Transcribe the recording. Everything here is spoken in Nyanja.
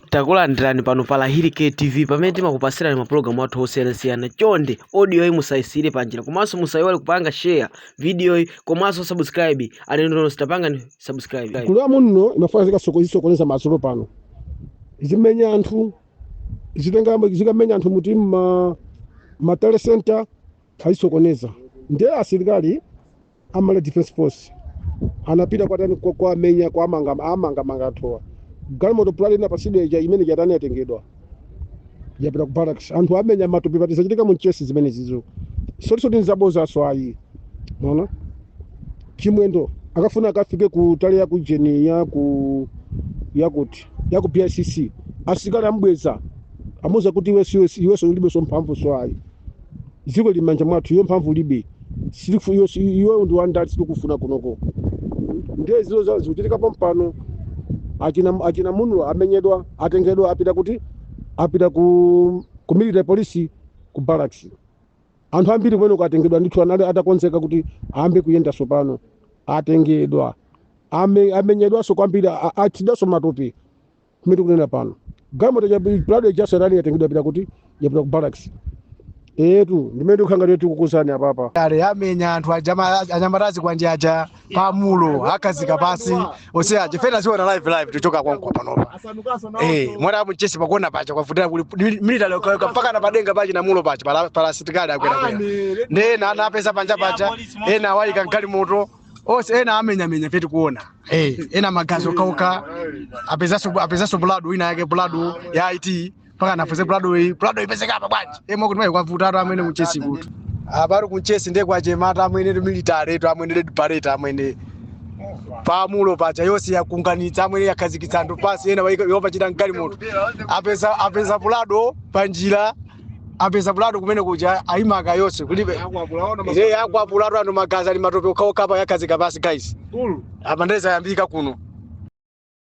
Takulandirani pano pa Lahiri K TV pamene timakupasirani mapulogalamu athu osiyanasiyana. Chonde audio yi musayisiyire panjira komanso musayiwale kupanga share video yi komanso subscribe alendo nonse tapangani subscribe. Gulu ya Munlo imafuna zikasoko- zisokoneza madzulo pano zimenya anthu zitenga zikamenya anthu muti ma ma tally center azisokoneza ndiye asilikali a Malawi Defense Force anapita kwatani kwa- kwamenya kwamanga amanga manga anthuwa galimoto Prado inapasidwa ija imene ija yatani yatengedwa yapita ku barracks anthu amenya matupi pati zachitika mu Nchesi zimene zizo zoti zoti nzabozaso ayi mona Chimwendo akafuna akafike ku tally ya ku ujeni ya ku yakuti ya ku BICC asilikali amubweza amuuza kuti iwe siwe iweso ulibeso mphamvuso ayi dziko lili m'manja mwathu iyo mphamvu ulibe silifu iyo si- iweyo ndi wandali sitikufuna kunoko ndiye zizo za- zikuchitika pompano achina achina Munlo amenyedwa atengedwa apita kuti apita ku ku military police ku barracks anthu ambiri kumeneko atengedwa ndithu anali atakonzeka kuti ayambe kuyenda sopano atengedwa Ame- amenyedwanso kwambiri a- achidwanso matupi kumene tikunena pano galimoto ya Prado ya serani yatengedwa yapita kuti yapita ku barracks etu ndimene ndikukhanga ndiye tikukuuzani apapa ale amenya anthu ajama- anyamata azikwanje aja pa Munlo akhazika pasi ose aja fena ziona live live tichoka konko panopa Eh, mwana apo Mchesi pakuona paja kwavutira kuli military ukaweka mpaka na padenga pachina Munlo paja pala pala asilikali akwera kwera. Nde ena anapeza panja paja, ena awaika mgalimoto. onse ena amenyamenya pete kuona hey, ena magazi okhaokha apezaso apezaso Prado ina yake Prado ya IT mpaka anafuse Prado iyi Prado ipezeka apa bwanji emo kuti mai kwavutatu amwene ku Mchesi kutu apa ali ku Mchesi ndiye kwachematu amwene tu military tu amwene red beret amwene pa Munlo paja yonse yakunganitsa amwene yakhazikitsa anthu pasi ena yawapachira mgalimoto apeza apeza Prado panjira apeza Prado kumene kuja ayimika yose kulibe yakwapulatu anthu magazi ali matope okhaokha apa yakhazika pasi guys apa nde zayambika kuno